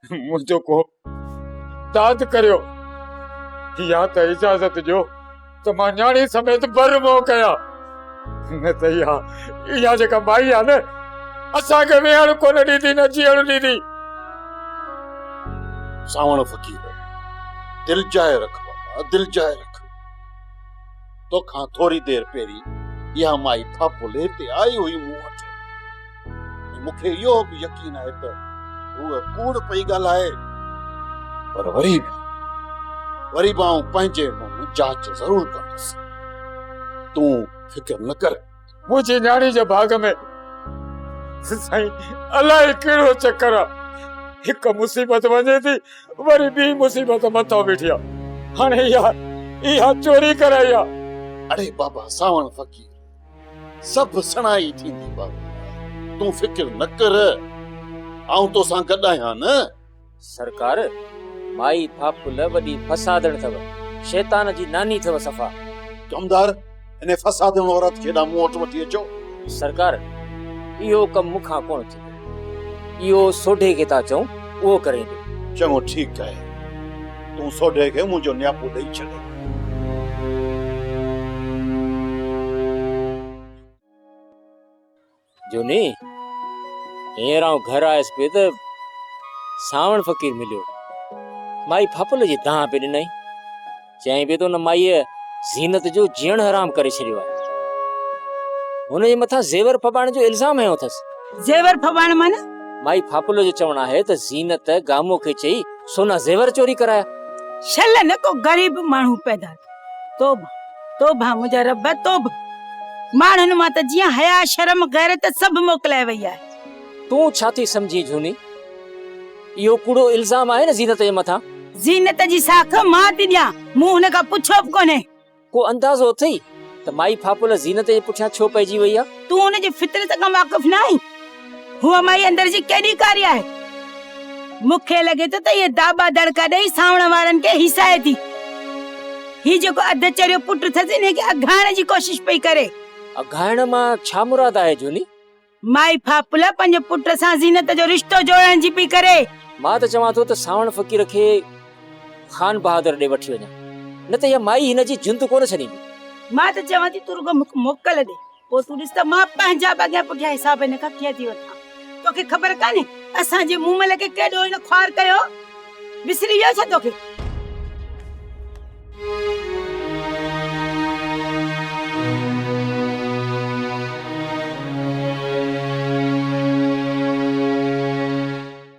منهنجو ڪو داد ڪريو يا ته اجازت ڏيو ته مان نياڻي سميت بر منهن ڪيان نه ته اها اها جيڪا مائي آهي نه اسانکي ويهڻ ڪو نه ڏيندي نه جيئڻ ڏيندي ساوڻ فقير دل جاء رک بابا دل جاء رک توکان ٿوري دير پهرين اها مائي ڦاڦل هتي آئي هئي مون وٽ ۽ مون کي اهو به يقين آهي ته هوء ڪوڙ پئي ڳالهائي پر وري به وري به آئون پنهنجي منهن جاچ ضرور ڪندس تون فڪر نه ڪر منهنجي نياڻي جي ڀاڳ ۾ سائين الائي ڪهڙو چڪر آ هڪ مصيبت وڃي ٿي وري ٻي مصيبت مٿو بيٺي آ هاڻي اها اها چوري ڪرائي آ اڙي بابا ساوڻ فقير سڀ سڻائي ٿيندي بابا تون فڪر نه ڪر آئون توسان گڏ آهيان نه سرڪار! مائي ڦاڦل وڏي فسادڻ اٿو، شيطان جي ناني اٿو صفا. ڪمدار! ان فسادڻ عورت کي هيڏانهن مون وٽ وٺي اچو. سرڪار! اهو ڪم مون کان ڪونه ٿيندو. اهو سوڍي کي ٿا چئون، اهو ڪريندو. چڱو ٺيڪ آهي. تون سوڍي کي منهنجو نياپو ڏئي ڇڏ. جھوني، ھينئر آئون گھر آيس پئي ته سانوڻ فقير مليو. مائي ڦڦل جي دانهن پئي ڏنائين. چيائين پئي ته ان مائيء زينت جو جيئڻ حرام ڪري ڇڏيو آهي. هن جي مٿان زيور ڦٻائڻ جو الزام هنيو اٿس. زيور ڦٻائڻ معنيٰ؟ مائي ڦڦل جو چوڻ آهي ته زينت گامو کي چئي سونا زيور چوري ڪرايا. شل نه ڪو غريب ماڻهو پيدا ٿيو. توبه توبه منهنجا رب توبه ماڻهن مان ته جيئن حيا شرم غيرت سڀ موڪلائي وئي آهي تون ڇا ٿي سمجهين جھوني اهو ڪوڙو الزام آهي نه زينت جي مٿان زينت جي ساک مان ٿي ڏيان مون هن کان پڇيو به ڪونهي ڪو اندازو اٿئي ته مائي ڦاپل زينت جي پٺيان ڇو پئجي وئي آهي تون هن جي فطرت کان واقف ناهين هوء مائي اندر جي ڪيڏي ڪاري آهي. مون کي لڳي ٿو ته هيء داٻا دڙڪا ڏيئي سانوڻ وارن کي هيسائي ٿي. هي جيڪو اڌ چريو پٽ اٿس انهي کي اگهائڻ جي ڪوشش پئي ڪري. اگهائڻ مان ڇا مراد آهي جوني؟ مائي ڦاڦلا پنهنجي پٽ سان زينت جو رشتو جوڙڻ جي پئي ڪري. مان ته چوان ٿو ته سانوڻ فقير کي خان بهادر ڏي وٺي وڃان. نه ته هيء مائي هن جي جند ڪونه ڇڏيندي. مان ته چوان ٿي تون رڳو مون کي موڪل ڏي. پوء تون ڏس ته مان پنهنجا به اڳيان پٺيان حساب هن کان ڪيئن ٿي وٺان توکي خبر ڪانهي اسان جي مومل کي ڪيڏو هن خوار ڪيو وسري ويو ڇا توکي